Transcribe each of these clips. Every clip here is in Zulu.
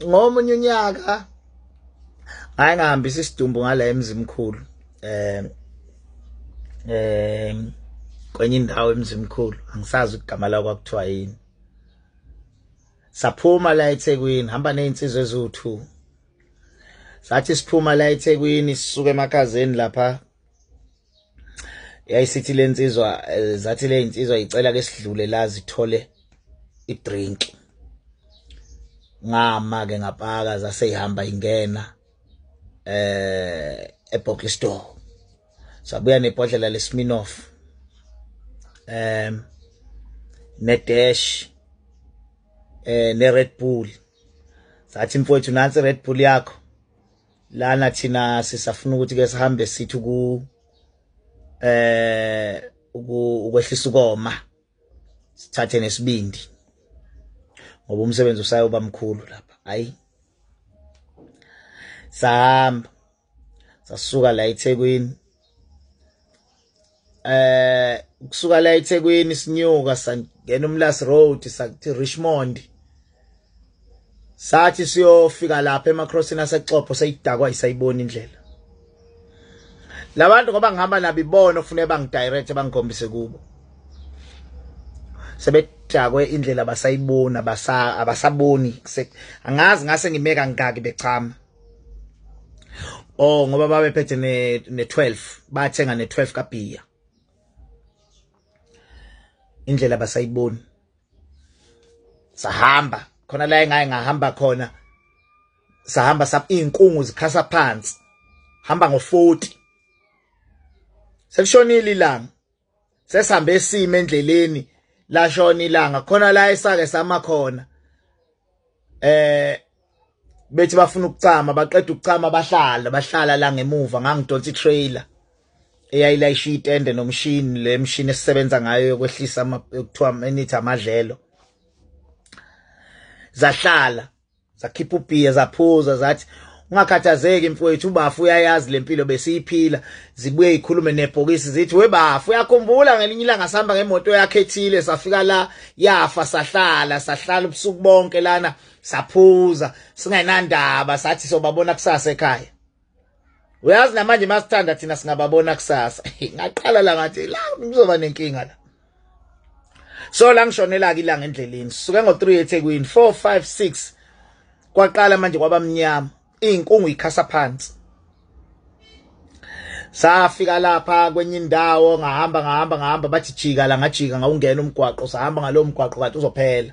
ngomunye unyaka hayi ngihambisa isidumbu ngala emzimkhulu eh eh kwenye indawo emzimkhulu angisazi igama la kwakuthiwa yini saphuma la eThekwini hamba nezinsizwe eziwu2 sathi siphuma la eThekwini sisuka emakhazeni lapha yayisithi le nsizwa eh, zathi le nsizwa icela ke sidlule la zithole idrink ngama ke ngapaka zase ihamba ingena eh ebhoki store sabuya nebhodlela lesminoff em ne dash eh ne red bull sathi mfowethu nansi red bull yakho lana thina sisafuna ukuthi ke sihambe sithi ku eh ukwehlisa ukoma sithathe nesibindi ngoba umsebenzi usayoba mkhulu lapha hayi sahamba sasuka la eThekwini eh kusuka la eThekwini sinyuka sangena uMlas Road sakuthi Richmond sathi siyofika lapha emaCrossing asexopo sayidakwa isayibona indlela labantu ngoba ngihamba nabo ibona kufanele bangidirect bangikhombise kubo sebedakwe indlela basayibona abasaboni angazi ngase ngimeka ngaki bechama oh ngoba babephethe ne ne 12 bathenga ne 12 kabhiya indlela basayiboni sahamba khona la engaye ngahamba khona sahamba sap inkungu zikhasa phansi hamba ngo 40 sekushonile ilanga sesihambe sime endleleni lashona ilanga khona la esake sama khona eh bethi bafuna ukucama baqeda ukucama bahlala bahlala la ngemuva ngangidonsa itrailer eyayilayisha itende nomshini le mshini esisebenza ngayo yokwehlisa kuthiwa enithi amadlelo zahlala zakhipha ubhiya zaphuza zathi ungakhathazeki mfowethu ubafu uyayazi lempilo besiyiphila zibuye ikhulume nebhokisi zithi webafu uyakhumbula ngelinye ilanga sihamba ngemoto yakhe ethile safika la yafa sahlala sahlala ubusuku bonke lana saphuza singenandaba sathi sobabona kusasa ekhaya uyazi namanje masithanda thina singababona kusasa ngaqala la ngathi la kuzoba nenkinga la so la ngishonela ke ilanga endleleni suke ngo 3 eThekwini 4 5 6 kwaqala manje kwabamnyama inkungu ikhasa phansi safika lapha kwenye indawo ngahamba ngahamba ngahamba bathi jika la ngajika ngawungena umgwaqo sahamba ngalowo mgwaqo kanti uzophela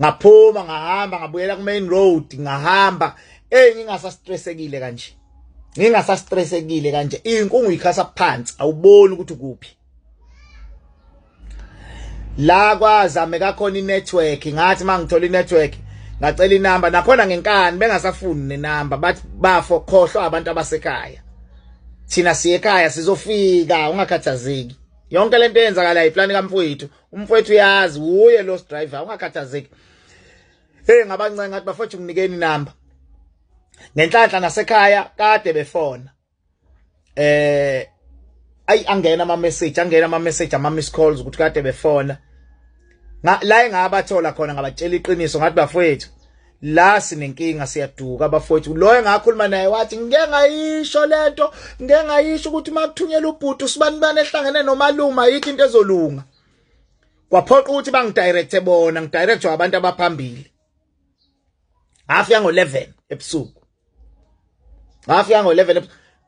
ngaphuma ngahamba ngabuyela ku main road ngahamba eh ngingasastressekile kanje ngingasastressekile kanje inkungu ikhasa phansi awuboni ukuthi kuphi la kwazame kakhona inetwork ngathi mangithola inetwork ngacela inamba nakhona ngenkani bengasafuni nenamba bathi bafo khohlwa abantu abasekhaya thina siye ekhaya sizofika ungakhathazeki yonke lento eyenzakalayo iplani kamfowethu umfowethu uyazi wuye lost driver ungakhathazeki hey ngabancenga ngathi bafowethu nginikeni inamba ngenhlanhla nasekhaya kade befona eh ayi angena ama message angena ama message ama miss calls ukuthi kade befona la engabathola khona ngabatshela iqiniso ngathi bafowethu la sinenkinga siyaduka bafowethu lo engakhuluma naye wathi ngike ngayisho lento ngike ngayisho ukuthi uma kuthunyelwa ubhuti usibani bani ehlangene nomaluma yikho into ezolunga kwaphoqa ukuthi bangidirecte bona ngidirectwe abantu abaphambili hafika ngo-11 ebusuku ngafika ngo 11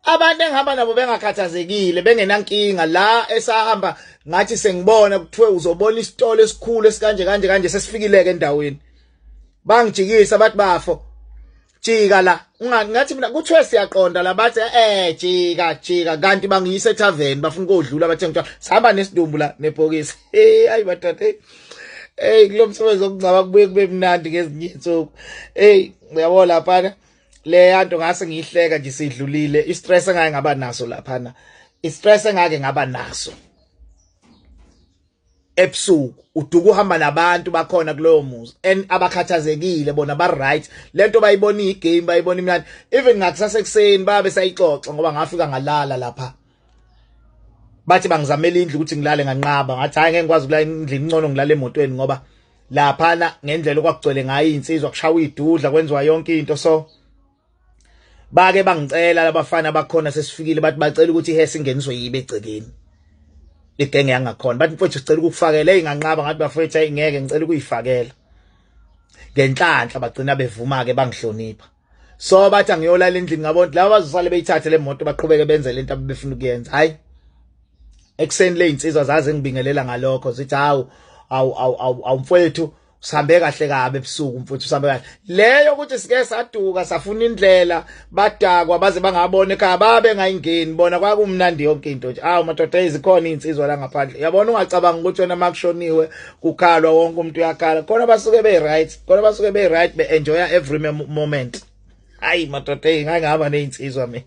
abantu engihamba nabo bengakhathazekile bengenankinga la esahamba ngathi sengibona kuthiwe uzobona isitolo esikhulu esikanje kanje kanje sesifikileke endaweni bangijikisa bathi bafo jika la ngathi mina kuthiwe siyaqonda la bathi eh jika jika kanti bangiyise tavern bafuna kodlula bathe ngithiwa sihamba nesidumbu la nebhokisi hey ayi bathathe hey kulo msebenzi okungcaba kubuye kube mnandi ngezinye insuku hey uyabo laphana le yanto ngase ngiyihleka nje sidlulile i stress engake ngaba naso laphana i stress engake ngaba naso ebusuku uduka uhamba nabantu bakhona kulowo muzi and abakhathazekile bona ba right lento bayibona igame bayibona imnandi even ngakusase kuseni babe sayixoxa ngoba ngafika ngalala lapha bathi bangizamela indlu ukuthi ngilale nganqaba ngathi hayi ngeke ngikwazi ukulala endlini ngcono ngilale emotweni ngoba laphana ngendlela okwakugcwele ngayo insizwa kushawa idudla kwenziwa yonke into so bake bangicela labafana bakhona sesifikile bathi bacela ukuthi ihe singeniswe yibe egcekeni igenge yangakhona bathi mfowethu sicela ukukufakela eyinganqaba ngathi bafowethu ayingeke ngicela ukuyifakela ngenhlanhla bagcina bevuma ke bangihlonipha so bathi angiyolala endlini ngabo laba bazosale beyithathe le moto baqhubeke benze lento abebefuna ukuyenza hayi ekuseni le insizwa zaze ngibingelela ngalokho zithi hawu awu awu awu mfowethu sihambe kahle kabe ebusuku mfuthu sihambe kahle leyo ukuthi sike saduka safuna indlela badakwa baze bangabona ekhaya babe ngayingeni bona kwakumnandi yonke into nje awu madoda izikhona izinsizwa la ngaphandle yabona ungacabanga ukuthi wena makushoniwe kukhalwa wonke umuntu uyakhala khona basuke be right khona basuke be right be enjoy every moment hayi madoda ngangihamba nezinsizwa mina